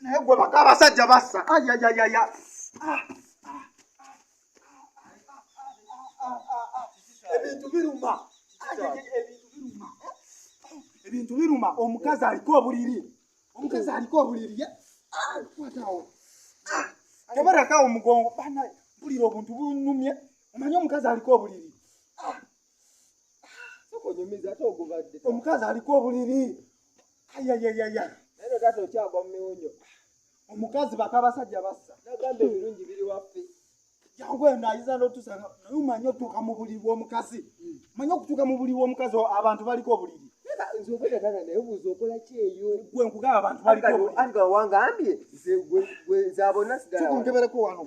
naye gwe baka abasajja bassa ayayayaya ebintu biruma ebintu biruma omukazi aliko obuliri omukazi aliko obuliri kwatawo tebarakawo omugongo bana mpulira obuntu bunumye omanye omukazi aliko obuliri omukazi aliko obuliri ayayayaya naye taata okyagwa mu miwunyo omukazi baka abasajja bassa nagamba ebirungi biri waffe jangu eno ayiza notusa naye omanye otuuka mu buliri bw'omukazi hmm. manye okutuuka mu buliri bw'omukazi abantu baliko obuliri gwenkugaabantuwangambye nze gwe nzabona sidakunkebeleko wano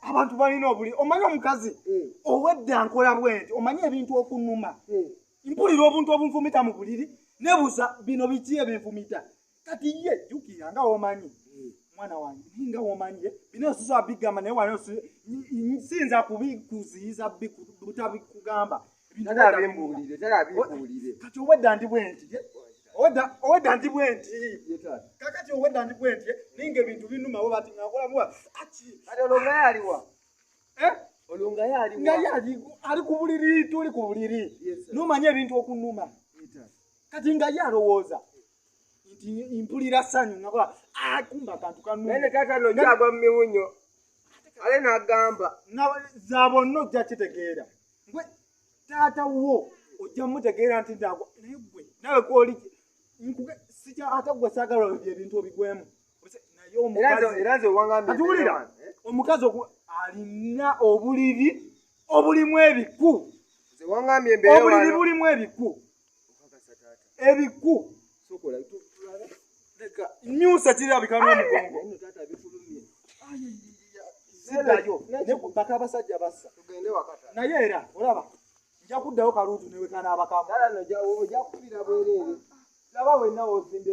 abantu balina obuli omanyi omukazi eh. owedda nkola bwenti omanyi ebintu okunuma eh. mpulira obuntu obunfumita mu buliri nebuza bino biki ebinfumita kati ye jukira nga womanyi eh. mwana wange naye nga womanyi bino osuza bigamba naye wano sinza kubikuziyiza butabikugamba bi, kati owedda ndi bwenti owedda ndi bwenti kakati owedda ndi bwenti ninga ebintu binumawo bati ngakolamuwa kati olongayaliwa eh? olongayaliwa ali ku buliri tuli ku buliri nomanya ebintu okunuma kati nga ye alowooza nti mpulira sanyu nakola akumba ah, kantu kanene tata nojagwa mumiwunyo ale nagamba zaba onna ojja kitegeera gwe taata wo ojja mutegeera nti ndagwa naye gwe nawe kwoli nkuge sija ate gwe saagala olabye ebintu obigwemu atuwulira omukazi oku alina obuliri obulimu ebiku obuliri bulimu ebiku ebiku nyusa kirabika n'omugongo baka abasajja bassa naye era olaba nja kuddayo kaluutu newekana abakamuojakubira bwerere laba wenawozimbye